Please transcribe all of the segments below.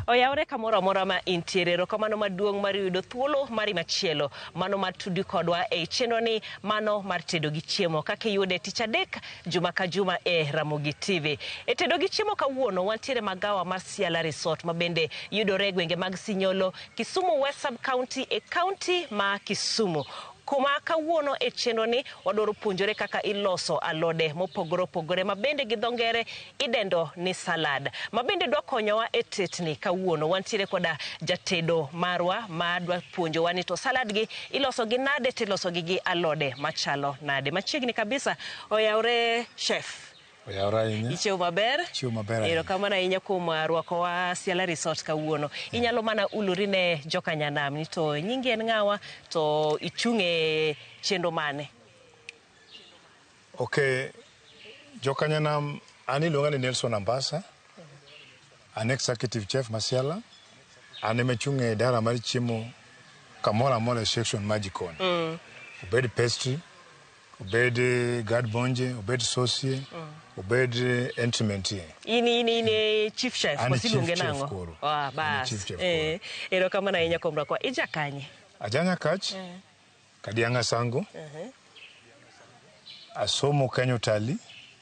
oyawre kamoro amora ma intiere erokamano maduong' mar yudo thuolo mari machielo mano mar tudi kodwa e i chenroni mano mar tedo gi chiemo kaka iyude tich adek juma ka juma e ramogi tv e tedo gi chiemo kawuono wantiere magawa mar siala resort ma bende yudore e gwenge mag sinyolo kisumu west sub county e county ma kisumu Kuma kawuono e chenro ni wadwaro puonjore kaka iloso alode mopogore opogore ma bende gi dho ngere idendo ni salad ma bende dwa konyowa e tetni kawuono wantiere koda jatedo marwa ma dwa puonjowa ni to salad gi iloso gi nade tiloso gi gi alode machalo nade machiegni kabisa oyawre chef Oyawore ahinya. Ichiew maber. Chiew maber ahinya. Erokamano ahinya kuom uh, rwakowa Siala Resort kawuono. Inyalo mana ulori ne joka Nyanam ni to nyingi en ng'awa to ichung' e chenro mane? Okay. Joka Nyanam an iluonga ni Nelson Ambasa. An executive chef ma Siala. An ema achung' e idara mar chiemo kamoro amora e section mar jikon. Obed pastry, obed guard bonje obed sosie mm. obed entrymentie in in in e chief chef wasiluonge nang'o ah bas eh ero kama na inya komra kwa ija kanye ajanya kach eh. kadianga sango uh -huh. asomo kenyo tali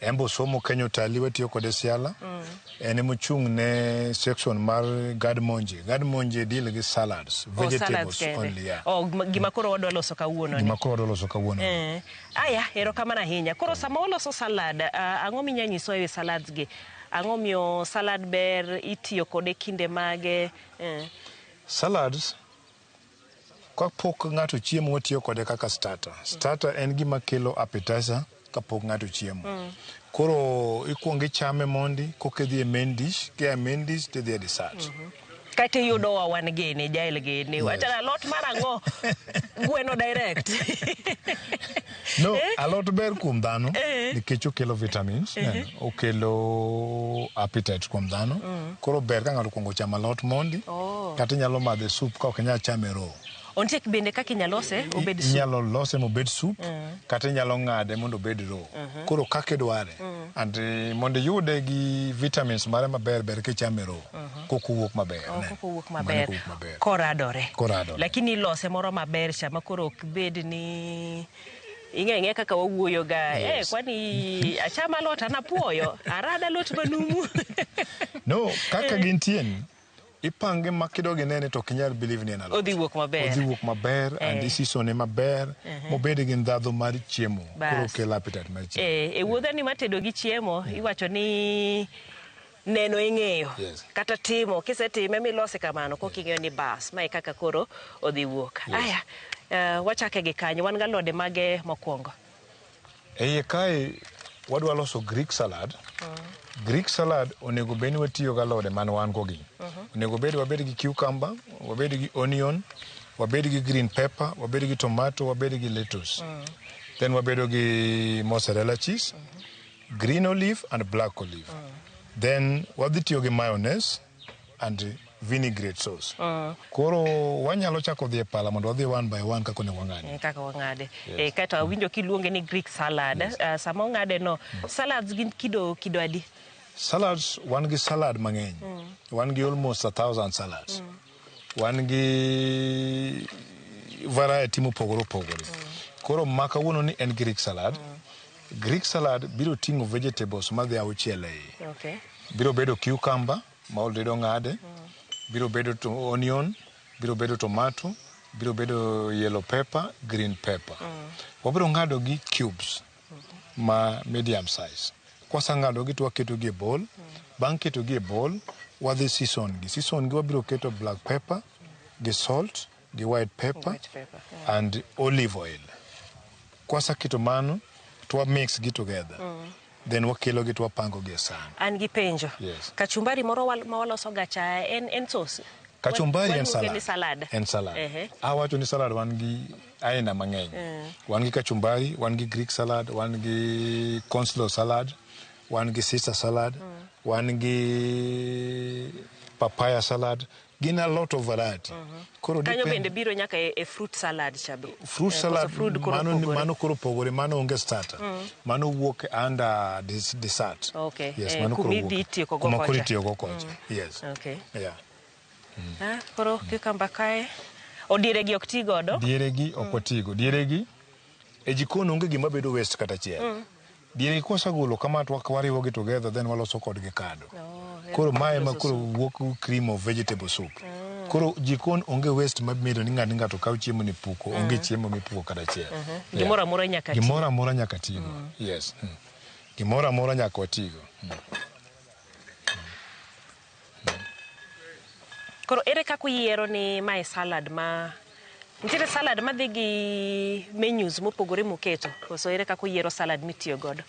Embe Osomo Kenya Otali watiyo kode Siala. Mm. En ema ochung' ne section mar Gad Monje. Gad Monje deal gi salads, oh, vegetables oh, only. Yeah. Oh, gima koro wadwa loso kawuono. Gima koro wadwa loso kawuono. Eh. Aya, erokamano ahinya. Koro sama waloso salad, uh, ang'o minya nyiso ewi salads gi? Ang'o miyo salad ber, itiyo kode kinde mage? Eh. Salads Kapok ng'ato chiemo watiyo kode kaka starter. Starter en gima kelo appetizer kapok ng'ato chiemo. Mm. Koro ikwongo ichame mondi koka idhi e main dish, kia e main dish to idhi e dessert. Mm -hmm. Kata iyudo wa wan gini, jael gini, yes. wachana lot mar ang'o, gweno direct. No, eh? alot ber kuom dhano eh? nikech okelo vitamins, eh? okelo appetite kuom dhano. Mm. Koro ber ka ng'ato kuongo chamo alot mondi oh. kata inyalo madhe soup ka ok inyal chame row. Ontie bende kaka inyalo lose obed soup. Inyalo lose mobed soup mm. kata inyalo ng'ade mondo obed row. Mm -hmm. Koro kaka idware. Mm. And eh, mondo iyude gi vitamins mare maber ber kichame row. Mm -hmm. koko wuok maber oh, koko wuok maber koradore koradore lakini ilose moro maber cha makoro ok bed ni ing'e ing'e kaka wawuoyo ga eh, yes. eh, kwani achama lot anapuoyo arada lot manumu no kaka eh. gintie ni ipange ma kidogi nene to ok inyal believe ni en alot odhi wuok maber odhi wuok maber eh. and isisone maber uh eh. -huh. mobed gi ndhadhu mar chiemo koro kelo appetite mar chiemo eh, e wuodhani matedo gi chiemo iwacho ni neno ing'eyo Yes. kata timo kisetime milose kamano koka ing'eyo ni bas mae kaka koro odhi wuok aya eh, wachake gi kanyo wan galode mage mokwongo Eiye kae wadwa loso Greek salad. Greek salad onego bed ni watiyo gi alode man wan go gi. Onego bed wabed gi cucumber, wabed gi onion, wabed gi green pepper, wabed gi tomato, wabed gi lettuce. Then wabedo gi mozzarella cheese, Green olive and black olive. Then wadhi tiyo gi mayonnaise and vinaigrette sauce. Koro wanyalo chako dhi e pala mondo wadhi one by one kaka onego wang'adi. Mm, kaka wang'ade Eh, kaeto awinjo kiluonge ni greek salad Ah, sama ong'ade no salads gin kido kido adi Salads wan gi salad mang'eny. Wan gi almost a thousand salads. Wan gi variety mopogore opogore. Koro ma kawuono ni en Greek salad. Greek salad biro ting'o vegetables madhi auchiel e iye. Okay. Biro bedo cucumber ma already ong'ade, biro bedo to onion, biro bedo tomato, biro bedo yellow pepper, green pepper. Wabiro ng'adogi cubes. ma medium size. Kwaseng'adogi to waketogi e bowl. Bang' ketogi e bowl, wadhi season gi. Season gi wabiro keto black pepper gi salt gi white pepper White pepper. and olive oil. Kwaseketo mano to wa mix gi together. Then wakelogi to wapango gi e san. An gi penjo. Yes. Kachumbari moro wal- ma waloso ga cha en en sauce. Kachumbari Wan- en waluonge ni salad. salad. En salad. Ehe. Awacho ni salad wan gi aina mang'eny yeah. wan gi kachumbari wan gi greek salad wan gi conslow salad wan gi sister salad mm. wan gi papaya salad gin a lot of variety. Mhm. Koro kanyo bende biro nyaka e, e fruit salad cha be. Fruit eh, salad mano mano koro pogore mano onge starter. Mm. Mano wuok under this dessert. Okay. Yes, eh, mano koro wuok. Kuma koro itiyo go kocha. Mm. Yes. Okay. Yeah. Ah, koro cucumber kae odieregi ok ti godo. dieregi ok watigo dieregi e jikon onge gima bedo waste kata achiel dieregi kwasegolo kama to wak- wariwogi together then waloso kodgi kado koro mae ma koro wuok cream of vegetable soup koro jikon onge waste mabiro ni ng'ato ni ng'ato kaw chiemo ni puko onge chiemo mipuko kata achiel Yeah. Gimoro amora nyaka ti. gimoro amora nyaka tigo yes Mm. gimoro amora nyaka watigo Koro ere kaka uyiero ni mae salad ma nitiere salad madhi gi menus mopogore muketo koso ere kaka uyiero salad mitiyo godo?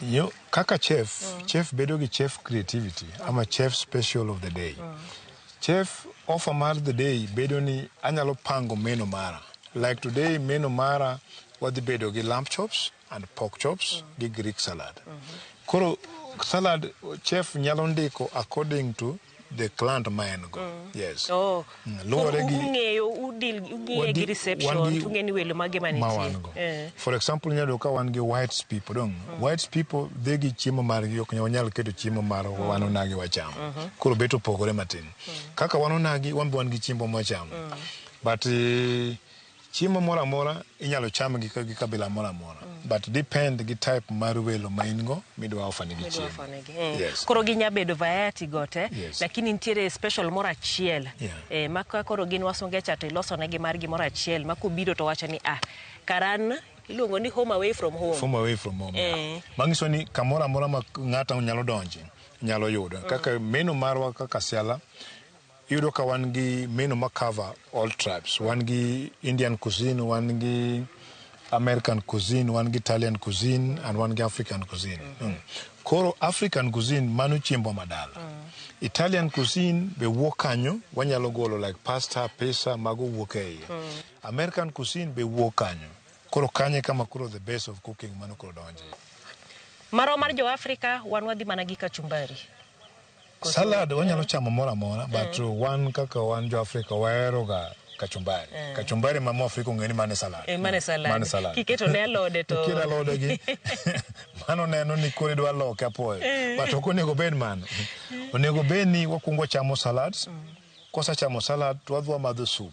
Yo, kaka chef, mm. chef bedo gi chef creativity mm. ama chef special of the day. Mm. Chef offer mar the day bedo ni anyalo pango menu mara. Like today menu mara wadhi bedo gi lamb chops, and pork chops gi Greek salad. Koro salad chef nyalo ndiko according to the client ma en go. Yes. Oh. Mm, Koro luwore gi- ung'eyo udil ung'e Wadi- gi reception wadi- tung'e ni welo mage ma ma wan go. nitie. Eh. For example, nyalo ka wan gi whites people dong. Whites people dhi gi chiemo margi ok nyal- wanyal keto chiemo mar wan onagi wacham. Koro bet opogore matin. Kaka wan onagi wan be wan gi chiembo mwachamo. But eh, Chiemo moro amora inyalo cham gi, gi kabila moro amora mm. but depend gi type mar welo ma in go midwa offer negi chiemo. Mm. Yes. Koro ginya bedo variety gote yes. Lakini nitiere special moro achiel yeah. Eh, ma koro gin wasunge cha to iloso negi mar gimoro achiel ma kubiro to wacho ni ah karan iluongo ni home away from home. Home away from home. Eh. Yeah. Mangiso ni kamoro amora ma ng'ata nyalo donje nyalo yudo mm. kaka meno marwa kaka siala Iyudo ka wan gi menu ma cover all tribes. Wan gi Indian cuisine, wan gi American cuisine, wan gi Italian cuisine and wan gi African cuisine. Mm. Koro African cuisine mano chiembwa madala. Mm. Italian cuisine be wuok kanyo, wanyalo golo like pasta, pizza mago wuok e iye. Mm. American cuisine be wuok kanyo. Koro kanye kama koro the base of cooking mano koro donje. Marwa mar jo Africa wan wadhi mana gi kachumbari. Salad wanyalo chamo moro amora but mm. wan kaka wan jo Afrika waheroga kachumbari mm. kachumbari ma Mwafrika ong'e ni mane salad eh, mane salad mane salad kiketo ne alode to kiketo alode gi mano neno ni kore dwa loke apoyo eh. but ok onego bed mano onego bed ni wakwongo chamo salads mm. kosachamo salad to wadhi wamadho soup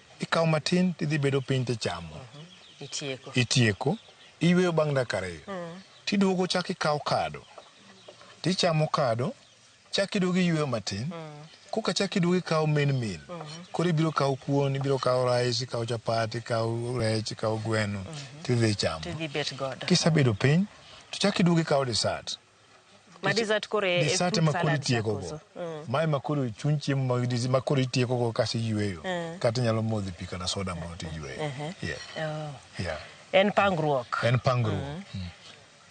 ikawo matin tidhi bedo piny tichamo Itieko. itieko iyweyo bang' dakika ariyo tiduogo chak ikawo kado tichamo kado chak iduogo iyweyo matin koka chak iduogo ikawo main meal koro ibiro kawo kuon ibiro kawo rice ikawo chapat ikawo rech ikawo gweno tidhi ichamo Tidhi bet godo. kisebedo piny to chak iduogo ikawo dessert Ma dessert koro e- e Dessert fruit ema koro salad itieko go. chakoso. Mm. Mae ma koro chuny chiemo mag dis- ma koro itieko go kasi yweyo. Mm. Kata inyalo modho pi kata soda moro to iyweyo. Ehe. Yeah. Oh. Yeah. En pangruok. En pangruok. Mm.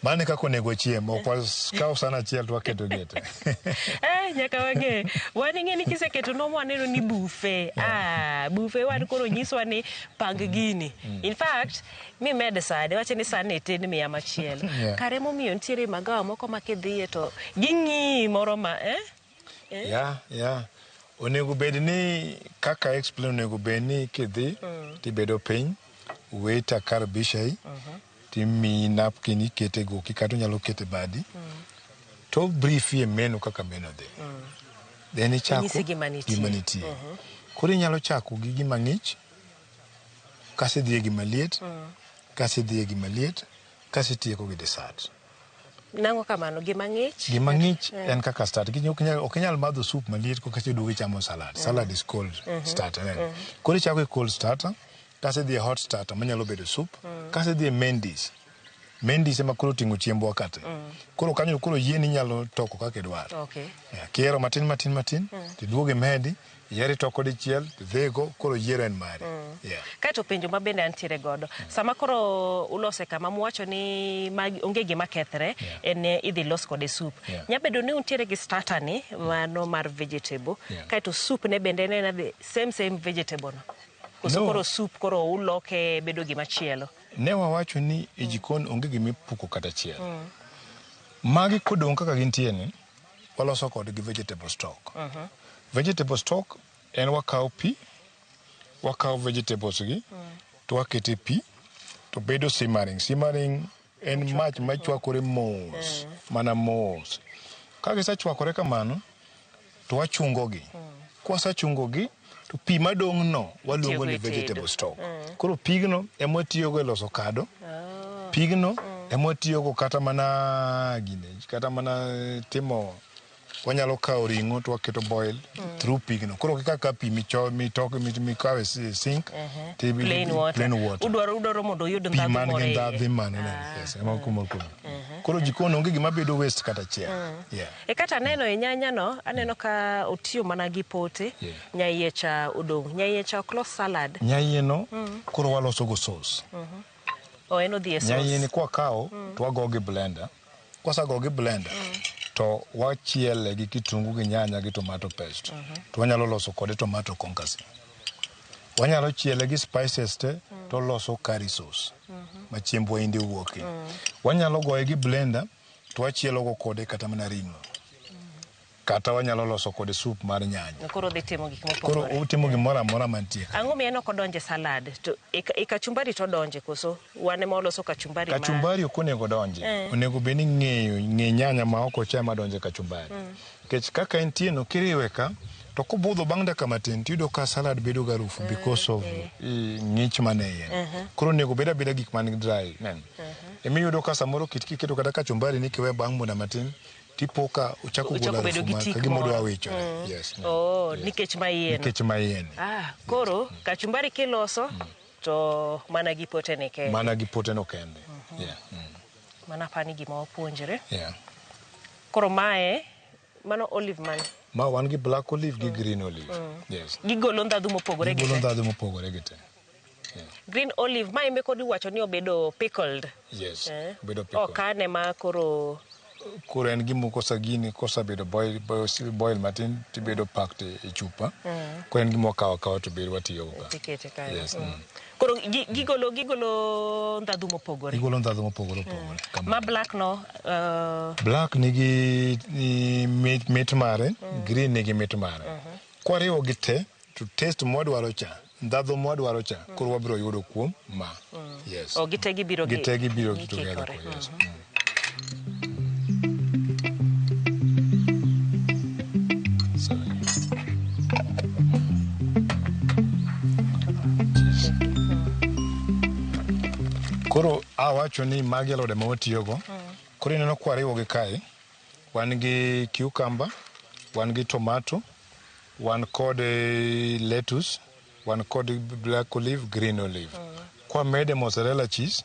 Mano e kaka onego chiem. Ok wakaw san achiel to waketo gete. Eh, nyaka wang'e wan ing'e ni kiseketo nom waneno ni bufe ah, bufe wan koro nyiswa ni pang gini in fact mimed sani wache ni sani itin miya machielo yeah. kare momiyo nitiere magawa moko ma kidhiye to ging'iyi moro ma eh? eh? yeah, yeah. onego bed ni kaka explain onego bed ni kidhi mm. tibedo piny weta kar bishai uh mhm. -huh. timiyi napkin ikete goki kata onyalo kete badi mm. to brief ye menu kaka meno dhi mm. then ichako gima nitie uh mhm. -huh. koro inyalo chako gi gima ng'ich Kas idhi e gima liet, mm. kas idhi e gima liet, kas itieko gi desat. Nango kamano gima ng'ich? Gima ng'ich mm. en kaka start. Ok inyal madho soup maliet ko kasto iduogo ichamo salad. Mm. Salad is cold mm -hmm. start. Mm -hmm. Koro ichako e cold starter, kas idhi e hot starter manyalo bedo soup, mm. kas idhi e main dish. Main dish ema koro oting'o chiembwa kate. Mm. Koro kanyo koro yien inyalo toko kaka idwar. Okay. Yeah, kiero matin matin matin, mm. tiduoge medi, yiero itoko dichiel, tidhigo, koro yiero en mari. Mm. Yeah. Kaeto penjo ma bende antiere godo. Mm. Sama koro ulose kama muwacho ni ma onge gima kethre, yeah. en eh, idhi los kode soup. Yeah. Nyabedo ni untiere gi starter ni, mm. mano mar vegetable. Yeah. Kaeto soup ne bende en same same vegetable no. Koso no. koro soup koro uloke bedo gima chielo. Ne wawacho ni e jikon onge gima ipuko kata achiel. Magi kodong' kaka gintie ni, waloso kodgi vegetable stock. Vegetable stock en wakawo pi, wakawo vegetables gi to wakete pi to bedo simmering. Simmering en mach machwakore mos mana mos. Ka gisechwakore kamano, to wachungogi. Kwasechungogi to pi madong'no waluongo ni Itiyogo e tedo. vegetable stock. Koro pigno ema watiyogo e loso kado. Pigno ema watiyogo kata mana gine, kata mana timo wanyalo kawo ring'o to waketo boil through pigno. Koro kika ka pi micho- mitoke mit- mikawo e si- sink to ibi- Plain water. plain water Udwaro udwaro mondo oyud pi ndhadhu man moro gi e iye. ndhadhi man e yes, ema kumor kumor. Koro jikon onge gima bedo waste kata achiel. Yeah. E kata aneno e nyanya no, aneno ka otiyo mana gi pote, Yeah. nyaiye cha odong'. Nyaiye cha ok los salad. Nyaiye no koro waloso go sauce. O en odhi e Nyaiye ni sauce. kwa kawo to wago gi blender. Kwasa go gi blender to wachiele gi kitungu gi nyanya gi tomato paste. To wanyalo loso kode tomato concassy. Wanyalo chiele gi spices te to loso curry sauce. Ma chiemb waindi wuoke. Wanyalo goye gi blender to wachielogo kode kata mana ring'o kata wanyalo loso kode sup mar nyanya. Koro odhi timo gik mopogore. Koro otimo gimoro amora mantie. Ang'o miyo en ok odonje salad? To e, e kachumbari to odonje koso? Wan ema waloso kachumbari ma. Kachumbari ok onego donje. Eh. Onego bed ni ng'eyo ng'e nyanya ma ok ochama donje kachumbari. Mm. Nikech kaka entie no kiriwe ka to kobudho bang' dakika matin tiyudo ka salad bedo ga rufu because of eh, ng'ich man e iye. Koro onego bed abeda gik man dry. Nen. Emiyudo ka samoro kit kiketo kata kachumbari ni kiwe bang' muda matin tipo ka ochako Ochako golo bedo harufu gi ma tik kagima odwa moro. wicho. Yes. nen. Oh, Yes. nikech ma iye no. Nikech ma iye ni. Ah, koro kachumbari kiloso to mana gi potene kende. Mana gi poteno kende. Yeah. Mm. Mano apani gima wapuonjre. Yeah. Koro mae mano olive mane? Ma wan gi black olive gi green olive. Yes. Gigolo ndhadhu mopogore gi Golo te. ndhadhu mopogore gi te. Green olive ma embe kod iwacho ni obedo pickled. Yes. Eh. Bedo pickle. Ok ane ma koro Koro en gimo kosa gini kosa bedo boil boil, boil matin tibedo packed e chupa. Koro en gimo kawa kawa to bedo watiyo go. tikete kae. Yes. Mm. Koro gi- gigolo gigolo ndhadhu mopogore. Gigolo ndhadhu mopogore opogore. Kama. Ma black no uh, Black nigi i- mit, mit mare, green nigi mit mare. Kwariwo gi te to taste mwadwaro cha, ndhadhu mwadwaro cha, koro wabiro yudo kuom ma. Yes. o gite gibiro gi- Gite gibiro gi together. gikikore. Yes. Mm. Koro awacho ni magi alode ma watiyogo. Koro ineno kwariwogi kae, wan gi cucumber, wan gi tomato, wan kod eh, lettuce, wan kod black olive, green olive. Kwamede mozzarella cheese,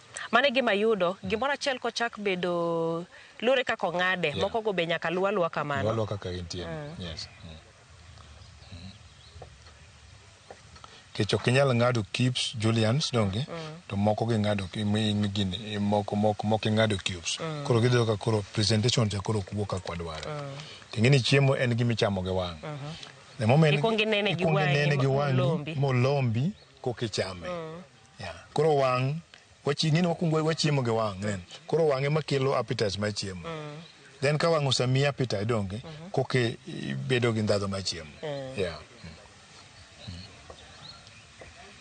Mano e gima yudo. Gimoro achiel kochak bedo luwore kaka ong'ade. Yeah. Moko go be nyaka luw aluwa kamano. Luw aluwa kaka entie. Mm. Yes. Mm. Kech ok inyal ng'ado cubes julians donge mm. to moko gi ng'ado gini moko moko moko ing'ado cubes mm. koro gidho ka koro presentation cha koro kuwo ka kwadwaro mm. tingini chiemo en gimi chamo gi wang' mm -hmm. the moment ikongi nene gi wang'i molombi kokichame mm. Yeah. Koro wang' wachi ng'eni wakuongo wachiemo gi wang' then koro wang' ema kelo appetite mar chiemo then ka wang' osemiyi appetite donge koka ibedo gi ndhadhu mar chiemo yeah.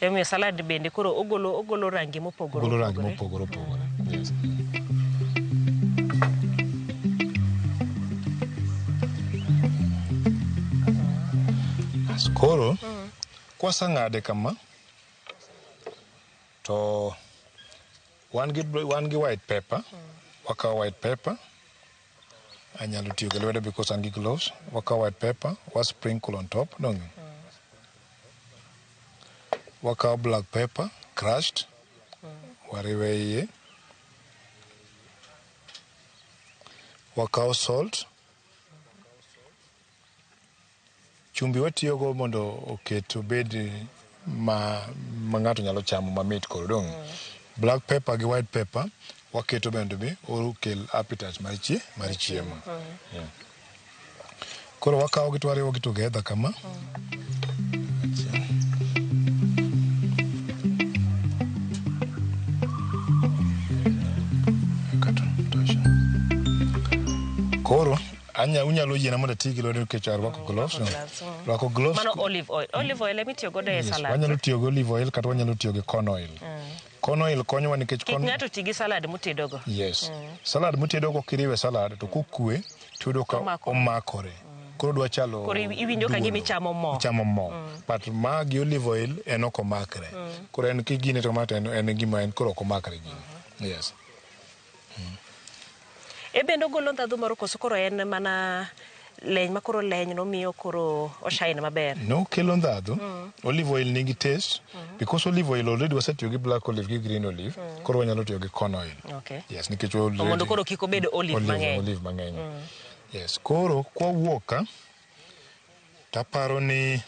Emomiyo salad bende koro ogolo ogolo rangi mopogore golo rangi opogore. mopogore opogore yes. As koro kwaseng'ade kama to wan gi, wan gi white paper wakawo white paper anyalo tiyo gi lwedo because an gi gloves wakawo white paper wa sprinkle on top dong wakawo black paper crushed wariwe iye wakawo salt Chumbi watiyogo mondo oket obed ma ma ng'ato nyalo chamo mamit koro dong'. Black pepper gi white pepper waketo bende be okel appetite mar chie mar chiemo. Yeah. Koro wakawogi to wariwogi together kama. Kato tosha. Koro Anya, unyalo yiena mondo ati gi lwedo nikech arwako mm, gloves. No. Rwako gloves. Mano olive oil. Olive oil emi tiyo godo e salad. Wanyalo tiyo gi olive oil kata wanyalo tiyo gi corn oil. Mm. Corn oil konyowa nikech corn... Kik ng'ato ti gi salad mutedogo. Yes. Mm. Salad mutedogo kiriwe salad to kokue tudo ka omakore. Mm. Koro dwa chalo Koro iwinjo ka gimi chamo mo. Chamo mo. Mm. But ma gi olive oil en ok omakre. Mm. Koro en kigine to mate en gima en koro ok omakre gini. Mm -hmm. Yes. E bende ogolo ndhadhu moro koso koro en mana leny ma koro leny no miyo koro oshine maber? No, kelo ndhadhu. Mm. Olive oil nigi taste mm. because olive oil already wasetiyo gi black olive gi green olive, mm. koro wanyalo tiyo gi corn oil. Okay. Yes, nikech already. Omondo koro kiko bedo olive mang'eny. Olive mang'eny. Mm. Yes, koro kwa wuoka taparo ni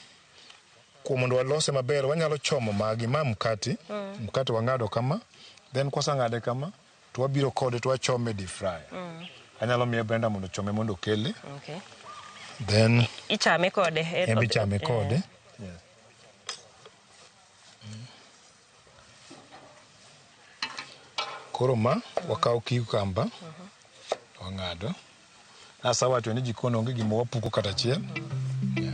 Kuom mondo walose maber wanyalo chomo magi. Ma mkati, mkati wang'ado kama, then kwaseng'ade kama to wabiro kode to wachome e deep fryer. Anyalo miye Brenda mondo ochome mondo okele, Okay. then Ichame kode. e- en be ichame eh. kode. Koro ma wakawo cucumber wang'ado. Nasawacho ni jikon onge gima wapuko kata achiel. Yeah.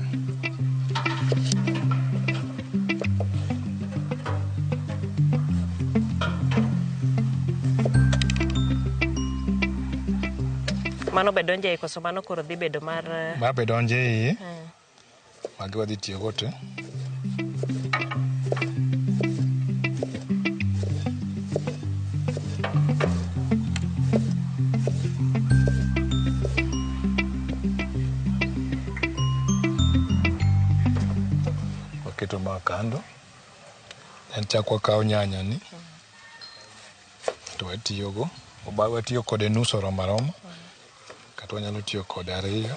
Mano be donjo ei koso mano koro dhi bedo mar Ma be donjo e iye. Magi wadhi tiyogo te. Waketo ma kando. En chak wakawo nyanya ni to watiyogo. Watiyo kode nus oromo aroma kata wanyalo tiyo kode ariyo.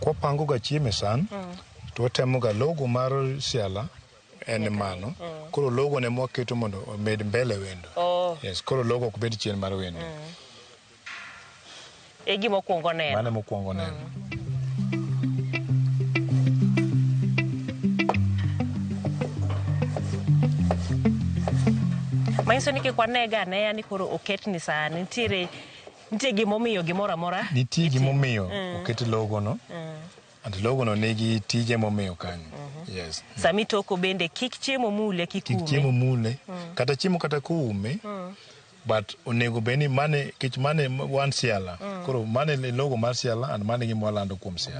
kwapango ga chiemo e san to watemo ga logo mar siala en mano koro logo ne mwaketo mondo omed mbele wendo Oh. yes koro logo ok bed chien mar wendo e gima okuongo neno mano mokwongo neno manyiso ni kik wanega aneya ni koro oketni sani nitiere Nitie gimomiyo gimoro amora. Nitie gimomiyo mm. oket logono. Mm. And logono nigi tije momiyo kanyo. Mm-hmm. Yes. Mm. Sami toko bende kik chiemo mule kik ume. Kik chiemo mule. Mm. Kata chiemo kata kuume. Mm. But onego beni mane kech mane wan siala. Mm. Koro mane logo mar siala and mane gimwalando kuom siala.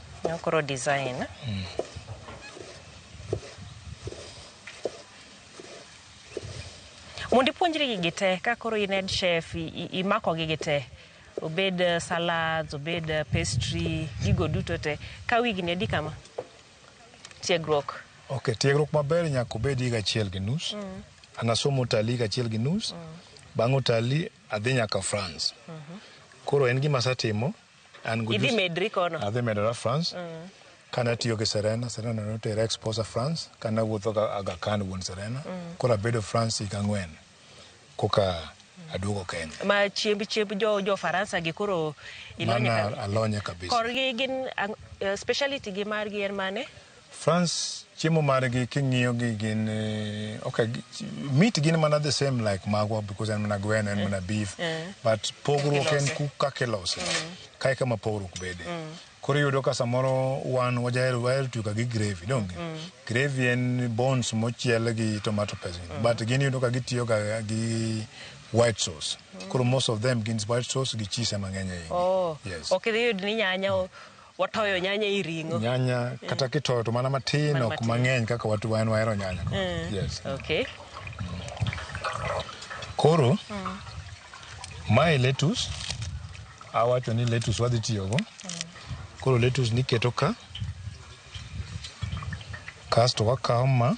Nyokoro design. Mm. Mondo ipuonjri gigi te ka koro in head chef imako gigi te obed eh, salads obed eh, pastry gigo duto te ka wigni adi kama tiegruok ok tiegruok maber nyaka obed higa achiel gi nus mm. anasomo utalii higa achiel gi nus mm. bang' utalii adhi nyaka france mm -hmm. koro en gima asetimo An gi Idhi jus- medri kono. Adhi medora France. Kane atiyo gi Serena, Serena ne otera exposa France. Kane awuotho ga Aga Khan wuon Serena. Koro abedo France higa ang'wen koka aduogo Kenya. Ma chiemb chiemb jo jo Faransa gi koro ilonye Mano ka. alonye kabisa. Korgi gin ang- eh, speciality gi margi en mane? France chiemo margi king'iyo gi gin eh, okay meat gin mana the same like magwa because en mana gweno en mana beef eh. Eh. but pogruok en ku kaka ilose mm. kae kama pogruok bede mm. koro iyudo ka samoro wan wajahero wahero tiyo ka gi gravy donge mm. gravy en bones mochiel gi tomato paste but gin iyudo ka gitiyo ga gi white sauce koro most of them gin white sauce gi cheese mang'eny ahinya oh. yes ok idhi yud ni nyanya Watoyo nyanya i ring'o. Nyanya eh. kata kitoyo to mana matin ok mang'eny kaka watu wan wahero nyanya. Eh. Yes. Okay. Koro mm. mae lettuce awacho ni lettuce wadhi tiyogo. Mm. Koro lettuce niketo ka kasto wakawo ma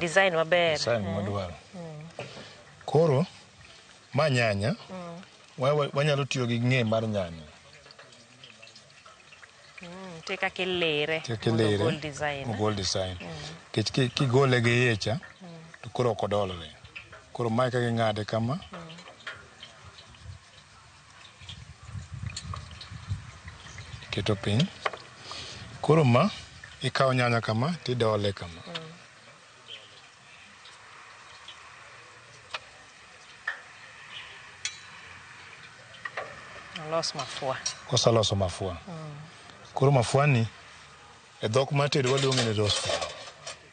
Design maber. design mwadwaro. Koro ma nyanya wa- wa- wanyalo tiyo gi ng'e mar nyanya Nitie kaka ilere. kik mondo ilere ogol design. ogol design kech ki- kigole gi iye cha to koro ok odolre koro mae kaka ing'ade kama Iketo piny. Koro ma ikawo nyanya kama tidole kama. Olos mafua. Koseloso mafua. Koro mafuani e dhok mar tedo waluonge ni rose flower.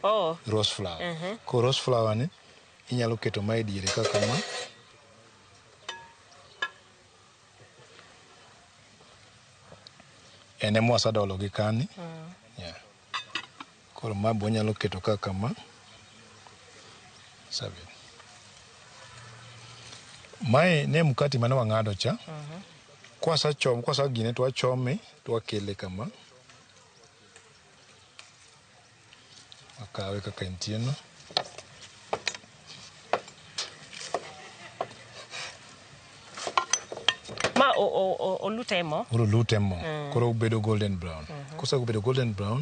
Oh, Rose flower. Koro rose flower ni inyalo keto ma e diere ka kama. en ema wasedolo gi kani yeah. koro ma be wanyalo keto ka kama Seven. mae ne mkati mane wang'ado cha kwasachom kwasagine to wachome to wakele kama Akawe kaka entie no. Ma o- o- o- olute e mo. Koro lute mo. Koro obedo golden brown. Kosebedo golden brown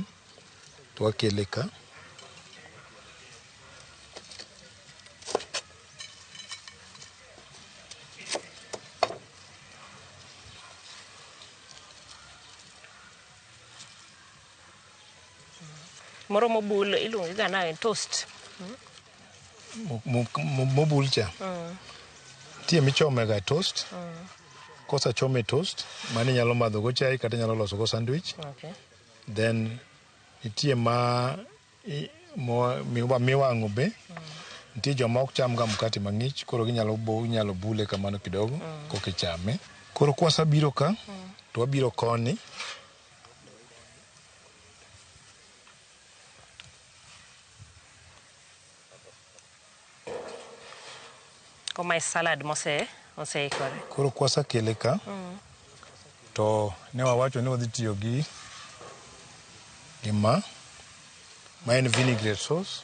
to wakele ka. Moro mobul iluonge ga nade? Toast. Mo- mo- mo- Mobul cha. Nitie michome ga toast. Kosachome toast, mano inyalo madho go chai kata inyalo loso go sandwich. Okay. Then nitie ma i- mo- miwa- miwang'o be. Nitie joma ok cham ga mkate mang'ich, koro ginyalo bo- inyalo bule kamano kidogo kokichame. Koro kwasabiro ka, to wabiro koni Ko my salad mose oseikore. Koro kwasekele ka mm. to ne wawacho ni wadhi tiyo gi gima ma en vinaigrette sauce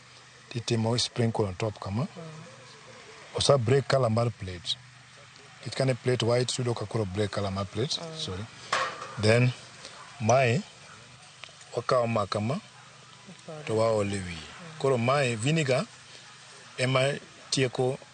titimo sprinkle on top kama osa break color mar plate nikech kane plate white yudo ka koro break color mar plate mm. sorry then mae wakawo ma kama to waole wiye koro mae vinegar ema tieko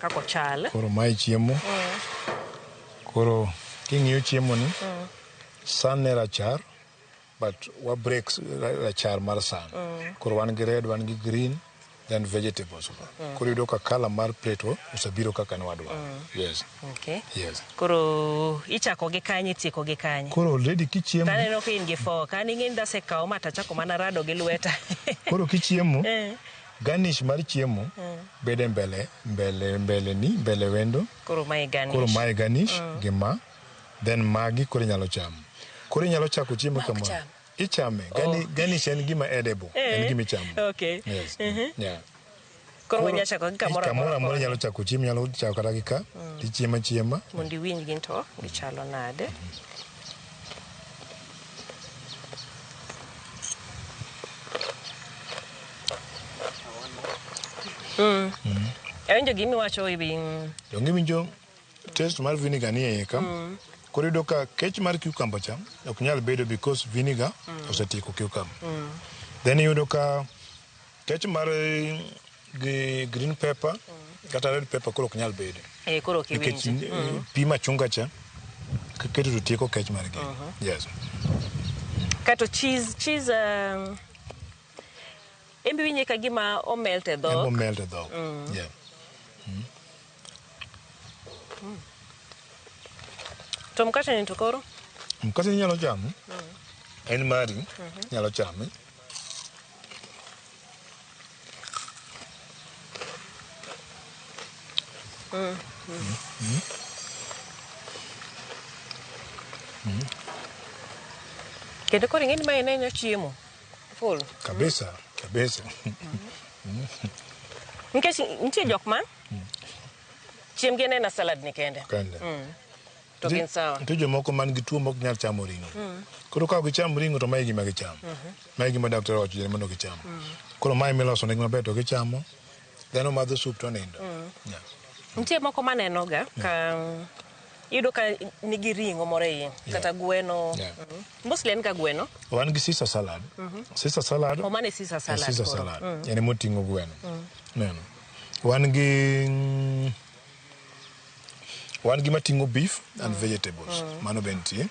Kako chal. Koro mae chiemo. Mm. Koro king'iyo chiemo ni, mm. san ne rachar, but wa break rachar mar san. Mm. Koro wan gi red, wan gi green, then vegetables. Mm. Koro yudo ka kala mar pleto osebiro kaka ne wadwa. Mm. Yes. Okay. Yes. Koro ichako gi kanye tieko gi kanye? Koro already kichiemo. Tane no ka in gi fo, kani ng'in dase kawo mata chako mana rado gi lweta. Koro kichiemo. Eh. Garnish mar chiemo bede mbele mbele mbele ni mbele wendo Koro mae garnish. koro mae garnish gi ma then magi koro inyalo chamo koro inyalo chako chiemo kama cham. ichame Garni- garnish en gima edible en gima ichamo Okay. yes yeah Koro wanya chako gi kamoro kamoro amora. amora inyalo chako chiemo inyalo chako kata gi ka tichiemo achiema Mondo iwinj gin to gichalo nade. awinjo gima iwacho e wi mm, donge iwinjo test mar vinegar ni eiye ka koro iyudo ka kech mar cucumber cha ok nyal bedo because vinegar osetieko cucumber then iyudo ka Kech mar gi green pepper kata red pepper koro ok nyal bedo Eh, koro ok nikech iwinji. eh, pi machunga cha kiketo to tieko kech mar gi yes Kato cheese, cheese um, embe winje ka gima omelt e embo dhok. melt e dhok yeah To mkate ni to koro? mkate inyalo chamo en mari inyalo chame Kendo koro ing'eni ma en enyo chiemo. Full. kabisa kabisa Nikech nitie jok ma chiembgi en aena salad ni kende. kende To gin sawa. Nitie jomoko man gi tuo mok nyal chamo ring'o. Koro ka ok gicham ring'o to mae gima gichamo. Mae gima daktari owacho jare mondo gicham. Koro mae miloso negi maber to gichamo. Dhano madho sup to nindo. Yeah. Nitie moko manenoga ka iyudo ka nigi ring'o moro e iye kata gweno. Yeah. Mm. Mostly en ga gweno. Wan gi Caesar salad. Caesar salad. O mane Caesar en salad. Caesar koro. salad. En emoting'o gweno. Neno. Wan gi mm, Wan gi mating'o beef and vegetables. Mano be nitie.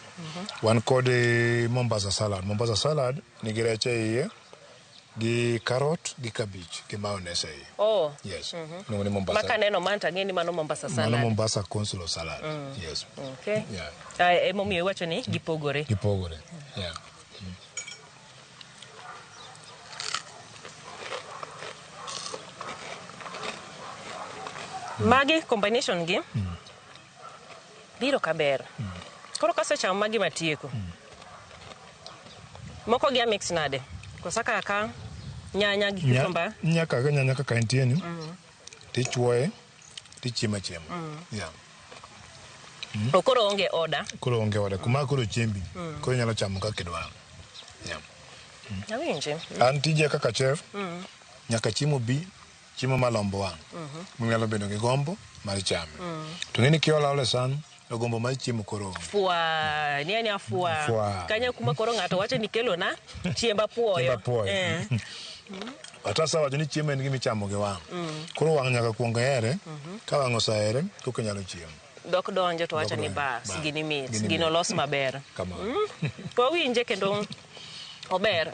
Wan kod eh, Mombasa salad. Mombasa salad nigi rech e iye gi carrot gi cabbage gi mayonnaise e iye. Oh. Yes. Iluongo ni Mombasa. Maka neno man to ang'e ni mano Mombasa Mano salad. Mombasa consular salad. Yes. Okay. Yeah. Ah, Emomiyo iwacho ni gipogore. Gipogore. Yeah. Magi combination gi biro ka ber. Koro kasechamo magi matieko. Moko gi amix nade? Kosa kaka nyanya gi Nya- cucumber. Nyaka nyanya kaka entie ni. Tichuoye. tichiemo achiema mm. yeah. mm. to koro onge oda koro onge oda kuma koro chiembi mm. koro inyalo chamo kaka idwaro yeah. mm. awinji mm. an tija kaka chef mm. nyaka chiemo bi chiemo malombo wang' mm -hmm. munyalo bedo gi gombo mar chame mm. to ng'eni kiola ole san To gombo mar chiemo koro onge. Fwa, ni anya fwa. Fwa. Kanya kuma koro ng'ato wacho ni kelo na chiemba puoyo. Chiemba puoyo. Eh. Watasa wacho ni chiemo en gima ichamo gi wang'. Koro wang' nyaka kuong here, ka wang' osahere, koka inyalo chiemo. Dok donjo to wacho ni Dok donjo. bas, Bas. gini mit, Gini gino mit. los maber. Kamano. To awinje kendo ober.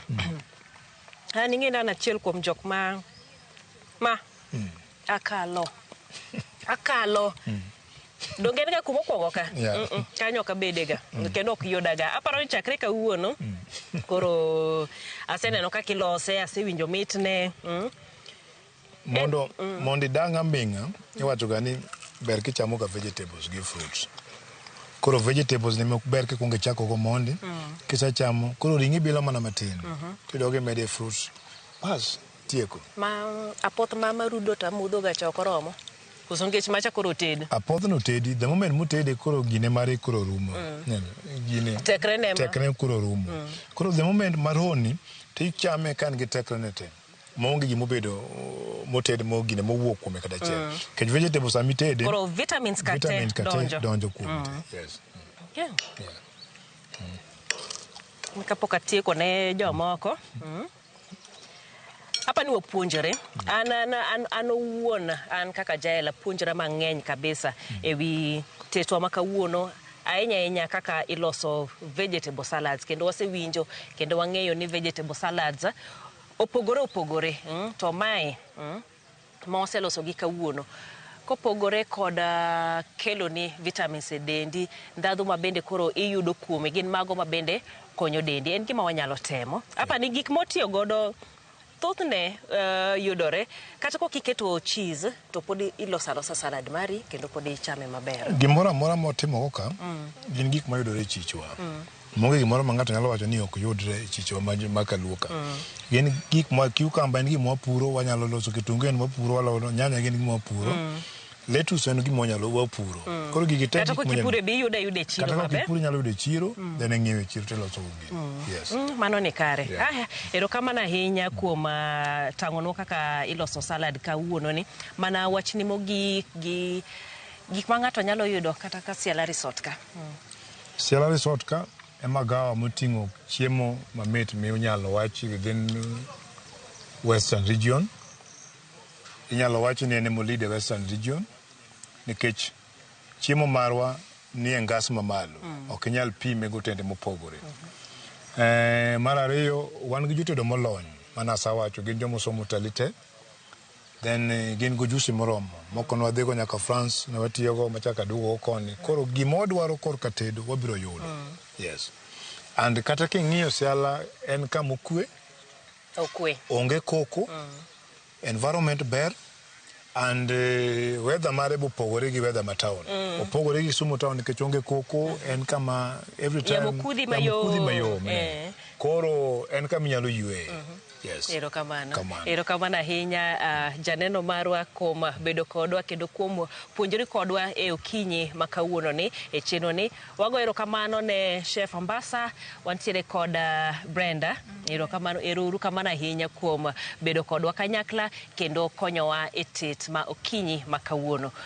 An ing'e ni an achiel kuom jok ma ma akalo. Akalo. donge en ga kuma okwongo ka Yeah. Mm, mm, kanyo ok abedega kendo ok yudaga aparo ni chakre kawuono koro aseneno kaka ilose asewinjo mitne mm. mondo mondo idang' aming'a iwachoga ni ber kichamoga vegetables gi fruits koro vegetables ni mok ber kikwongo ichakogo mondi kisechamo koro ring'i bilo mana matin tidogo imede fruits bas tieko ma apoth mama rudo to amudhoga cha ok oromo Koso ngech macha koro ted. Apoth no tedi, the moment mutede koro gine mare koro rumo. Mm. Gine. Tekre ne ma. Tekre koro rumo. Mm. Koro the moment maroni, to ichame kan gi tekre ne te. Maonge gima obedo moted mo gine mowuok kuome kata achiel. Mm. Kech vegetables sami tede. Koro vitamins kate vitamins kate donjo. donjo kuome. Mm. Yes. Mm. Yeah. Yeah. Mm. Kapok atieko ne jomoko. Mm. Apa ni wapuonjore an an an an owuon an kaka jael apuonjora mang'eny kabisa ewi tetwa ma kawuono ahinya ahinya kaka iloso vegetable salads kendo wasewinjo kendo wang'eyo ni vegetable salads opogore opogore mm, to mae mm, ma waseloso gi kawuono. Kopogore kod keloni vitamins e dendi, ndhadhu ma bende koro iyudo kuome gin mago ma bende konyo dendi. En gima wanyalo temo. Apa ni gik motiyo godo thothne uh, yudore kata kok iketo cheese to pod iloso alosa salad mari kendo pod ichame maber. Gimoro amora motimo koka mm. gin gik mayudore e chichwa. Mm. Onge gimoro ma ng'ato nyalo wacho ni ok yudre e chichewa ma kaluo ka. Gin gik ma cucumber en gima wapuro, wanyalo loso kitungu en wapuro, walo nyanya gin gima wapuro. Lettuce en gima wanyalo wapuro. Koro gigi te Kata gik manyalo- kokipure be iyudo ayuda e chiro kata ka maber. kipuro inyalo yudo e chiro, then ing'iewo e chiro tiloso go gini. Yes. Mm, mano ni kare Yeah. aya erokamano ahinya kuom ah, tang'onwa kaka iloso salad kawuononi mana wachni mogik gi gik ma ng'ato nyalo yudo kata ka siala resort ka mm. Siala Resort ka e magawa moting'o chiemo mamit minyalo wachi within Western Region. Inyalo wachi ni en ema o-lead e Western Region nikech chiemo marwa nie ngas mamalo. Ok inyal pime gi otende mopogore. Eh, mar ariyo wan gi jotedo molony mane asawacho gin joma osomo utalii te. Then eh, gin gojusi moromo moko nwadhigo nyaka France ne watiyogo machaka aduogo koni. Koro gima wadwaro korka tedo wabiro yudo. Mm. Yes. And kata king'iyo Siala en kama okwe. Okwe. Onge koko. Mm. Environment ber and uh, weather mare bopogore gi weather ma town mm. opogore gi Kisumu town nikech onge koko en kama every time yamo kudhi mayom eh. koro en kama inyalo ywe mm -hmm. Yes. Erokamano. Kamano. Erokamano ahinya ah, janeno marwa kuom bedo kodwa kendo kuom puonjori kodwa e okinyi ma kawuononi e chenroni. Wago erokamano ne Chef Ambassa, wantiere kod ah, Brenda. Erokamano, ero uru kamano ahinya kuom bedo kodwa kanyakla kendo konyowa e tet ma okinyi ma kawuono.